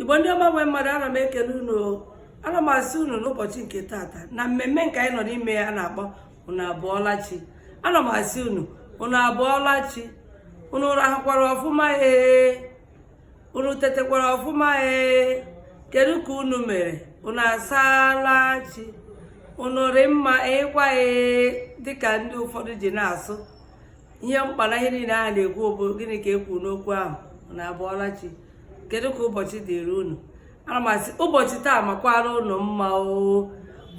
igbo ndị ọma nwe mmadụ ana m ekele unu ana m asị unu n'ụbọchị nke tata na mmemme nke anyị nọ n'ime ya a na-akpọ unu abụọla chi ana m asị unu unu abụọla chi unu rahụkwara ọfụma ee unu tetekwara ọfụma ee kedu ka unu mere unu asaala chi unu rị mma ịkwa ee dịka ndị ụfọdụ ji na-asụ ihe mkpa na ihe niile a na-ekwu bụ gịnị ka e kwuru n'okwu ahụ unu abụọla chi kedu ka ụbọchị dịrị unu ana m asị ụbọchị taa makwara unu mma oo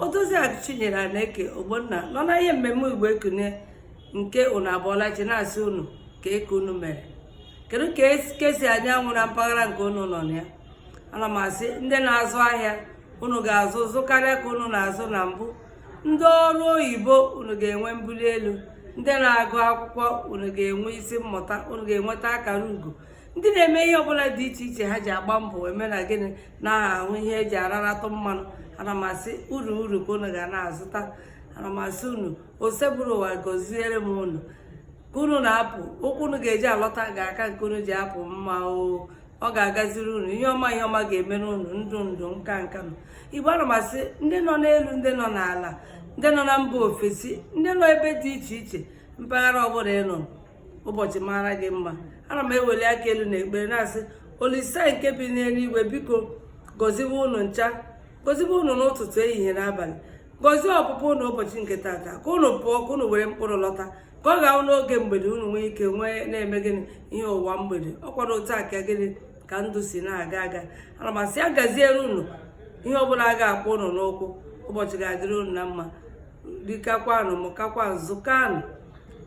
odoziakụ chinyere aneke ogbonna nọ na ihe mmemme igbo ekunie nke unu abụọla chi na-asị unu kee ka unu mere kedu ka esi ahụ anyanwụ na mpaghara nke unu nọ na ya ana m asị ndị na-azụ ahịa unu ga-azụ zụkarịa ka unu na-azụ na mbụ ndị ọrụ oyibo unu ga-enwe mbuli elu ndị na-agụ akwụkwọ unu ga-enwe isi mmụta unu ga-enweta akara ugo ndị na-eme ihe ọbụla dị iche iche ha ji agba mbọ eme na gịnị na-ahụ ihe eji araratụ mmanụ ana m asị uru uru ka unu ga na-azụta ana m asị unu osebụrụwa gọziere m unu ka unu na-apụ ụkwụ unu ga-eji alọta ga-aka nke unu ji apụ mma o ọ ga-agaziri unu ihe ọma ihe ọma ga-emere unu ndụ ndụ nka nka nụ igbo ana m asị ndị nọ n'elu ndị nọ n'ala ndị nọ na mba ofesi ndị nọ ebe dị iche iche mpaghara ọbụla ị nọ ụbọchị mara gị mma ana m eweli aka elu na ekpere na-asị olisa nke bi n'eluigwe biko gọziwe unu ncha gọziwe unu n'ụtụtụ ehihie na abalị gọzie ọpụpụ unu ụbọchị nke tata ka unu pụọ ka unu were mkpụrụ lọta ka ọ ga-awụ n'oge mgbede unu nwee ike wee na-eme gịnị ihe ụwa mgbede ọ kwara otu a ka gịnị ka ndụ si na-aga aga ana m asị ya gaziere unu ihe ọbụla a ga-akpọ unu n'ụkwụ ụbọchị ga-adịrị unu na mma rikakwanụ mụkakwanụ zụkanụ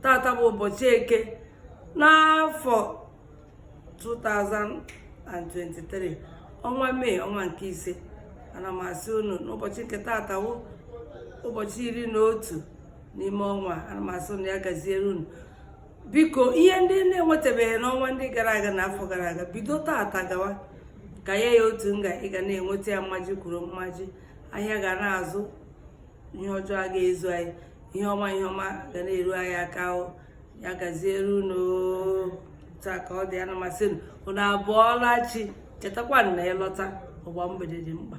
tata bụ ụbọchị eke n'afọ 2023 ọnwa mee ọnwa nke ise ana m asị unu n'ụbọchị nke tata wụ ụbọchị iri na otu n'ime ọnwa ana m asị unu ya gaziere unu biko ihe ndị na-enwetabeghị n'ọnwa ndị gara aga na afọ gara aga bido taata gawa ka ya ya otu nga ị ga na-enweta ya mmaji kwuru mmaji ahịa ga na-azụ ihe ọjọọ a ga-ezu anyị ihe ọma ihe ọma ga na-eru anyị aka o ya gaziere unu taa ka ọ dị ana m asị unu unu abụọla chi chetakwa na ịlọta ụgbọ mgbede dị mkpa